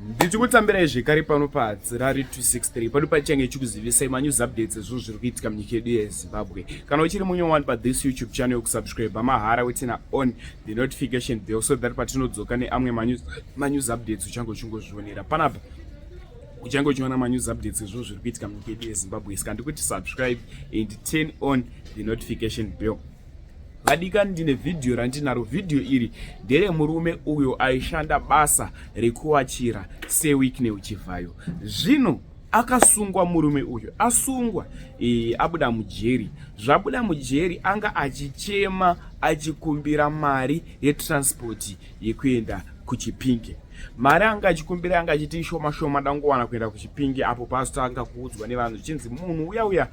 ndichikutambirai zvekare pano padzirari 263 pano pachange chikuzivisai manews updates ezvinhu zviri kuitika munyika yedu yezimbabwe kana uchiri munye wani pathis youtube channel yokusubscribe mahara wetina on the notification bell so that patinodzoka neamwe manews updates uchange uchingozvionera panapa uchange uchiona manews updates ezvinhu zviri kuitika munyika yedu yezimbabwe sika ndikuti subscribe and turn on the notification bell vadikani ndine vhidhiyo randinaro vhidhiyo iri ndere murume uyo aishanda basa rekuwachira sewikne uchivhayo zvino akasungwa murume uyu asungwa e, abuda mujeri zvabuda mujeri anga achichema achikumbira mari yetranspoti yekuenda kuchipinge mari anga achikumbira anga achiti ishoma shoma dangowana kuenda kuchipinge apo pazotanga kuudzwa nevanhu zvichinzi munhu uya uya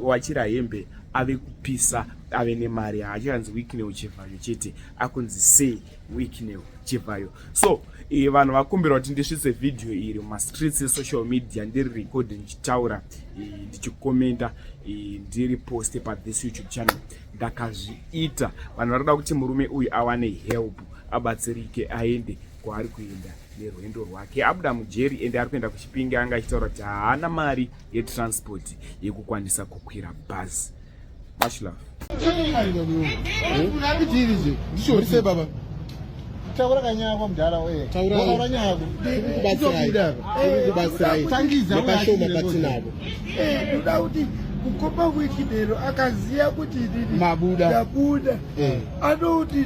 wawachira hembe ave kupisa ave nemari haachiranzi wicknel chivhayo chete akunzi say wicknel chivhayo so e, vanhu vakumbira kuti ndisvitse vhidhiyo iri mumastreets esocial media ndiri record ndichitaura e, ndichikomenta e, ndiri poste pathis youtube channel ndakazviita vanhu vari kuda kuti murume uyu awane help abatsirike aende kwaari kuenda nerwendo rwake abuda mujeri ende ari kuenda kuchipinge anga achitaura kuti haana mari yetransport yekukwanisa kukwira bhazi much love taura kanyaya kwa mudhara wee wakaura nyaya yako kubatsirai tangiza nepashoma patinavo ndoda kuti kukomba wiki lero akaziva kuti ndini ndabuda eh. anouti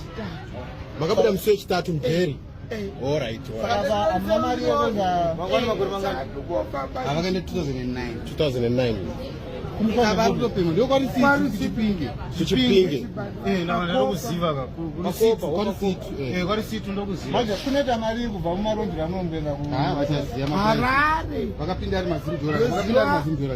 makabuda musi wechitatu mugeri avakaenda 2009 kunoita mari kubva mumarondiro anongoenda kuharare vakapinda ari mazimdora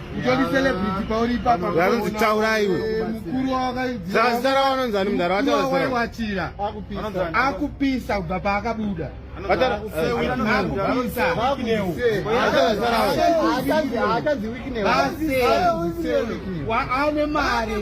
utori celebrity pauri ipapa vanonzi taura iwe mukuru wawakazara vanonzi ani mudhara wataawaiwatira akupisa kubva paakabuda ane mari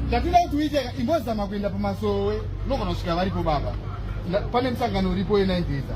zvatinoda kuti uite imbozama kuenda pamasowe unogona kusvika varipo baba pane musangano uripo yenaindeza